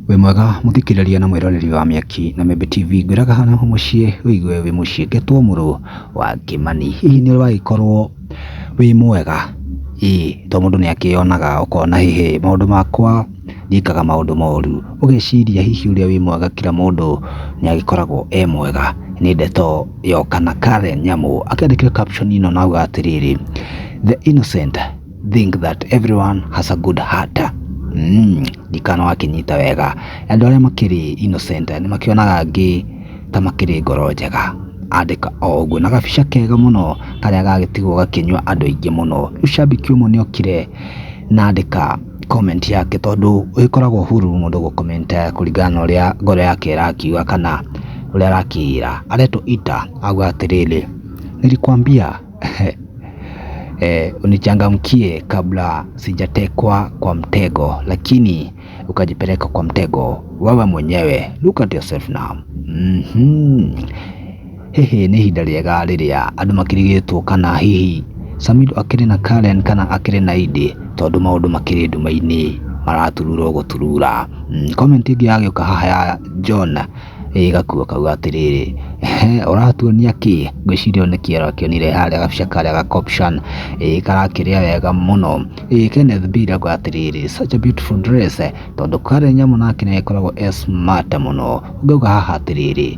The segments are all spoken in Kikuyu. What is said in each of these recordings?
wĩ mwega mũthikĩrĩria na mwĩroreri wa mĩaki na Membe TV ngwĩraga hana ho mũciĩ wĩigue wĩ mũciĩ ngetwo mũrũ wa Kĩmani hihi nĩ ũragĩkorwo wĩ mwega ĩĩ to mũndũ nĩ akĩyonaga ũkona hihi maũndũ makwa nĩekaga maũndũ moru. Ũgeciria hihi ũrĩa wĩ mwega kira mũndũ nĩagĩkoragwo e mwega? Nĩ ndeto ya ũkana Karen Nyamu akĩandĩkire caption ĩno na auga atĩrĩrĩ, The innocent think that everyone has a good heart. Ndikana wakĩnyita wega. Andũ arĩa makĩrĩ innocent nĩmakĩonaga angĩ ta makĩrĩ ngoro njega. Andĩka o ũguo na gabica kega mũno karĩa gagĩtigwo gakĩnyua andũ aingĩ mũno. Rĩu shabiki ũmwe nĩokire na andĩka... comment yake tondũ ĩkoragwo huru mũndũ gũ comment kũringana na ũrĩa ngoro yake ĩrakiuga kana ũrĩa arakĩĩra. Aretwo Ita auga atĩrĩrĩ, nilikuambia unichangamkie kabla sijatekwa kwa mtego lakini ukajipeleka kwa mtego wewe mwenyewe. Look at yourself now. Hihi nĩ ihinda rĩega rĩrĩa andũ makĩrigĩtwo kana hihi Samido akĩrĩ na Karen kana akĩrĩ na Idi tondũ maũndũ makĩrĩ nduma-inĩ maraturura gũturura. Mm, comment ĩngĩ yagĩũka haha ya John ĩgakuo kauga atĩrĩrĩ ehe ũratuonia kĩ ngwĩciria nĩ kĩero akĩonire harĩa gabica karĩa ga caption ĩĩ karakĩrĩa wega mũno ĩĩ Kenneth B rauga atĩrĩrĩ such a beautiful dress tondũ Karen nyamũ nake nĩ agĩkoragwo e smart mũno ngauga haha atĩrĩrĩ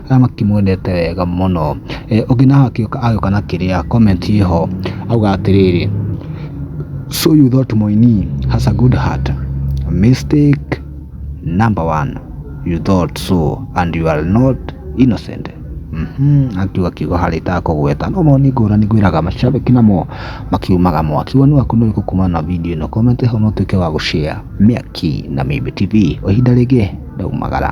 arĩa makĩmwendete wega mũno. Ũngĩ naho agĩũka agĩũka na kĩrĩa comment ĩho auga atĩrĩrĩ, so you thought Mũini has a good heart? Mistake number one, you thought so and you are not innocent. Mhm, akiuga kiugo harĩa itakũgweta no mau nĩ ngũrani ngwĩraga mashabĩki namo makiumaga mwaki. Woni waku nĩ ũrĩkũ kumana na video ĩno? Comment ĩho na ũtuĩke wa gũ share. Mĩaki na Mĩmbi TV, o ihinda rĩngĩ ndaumagara.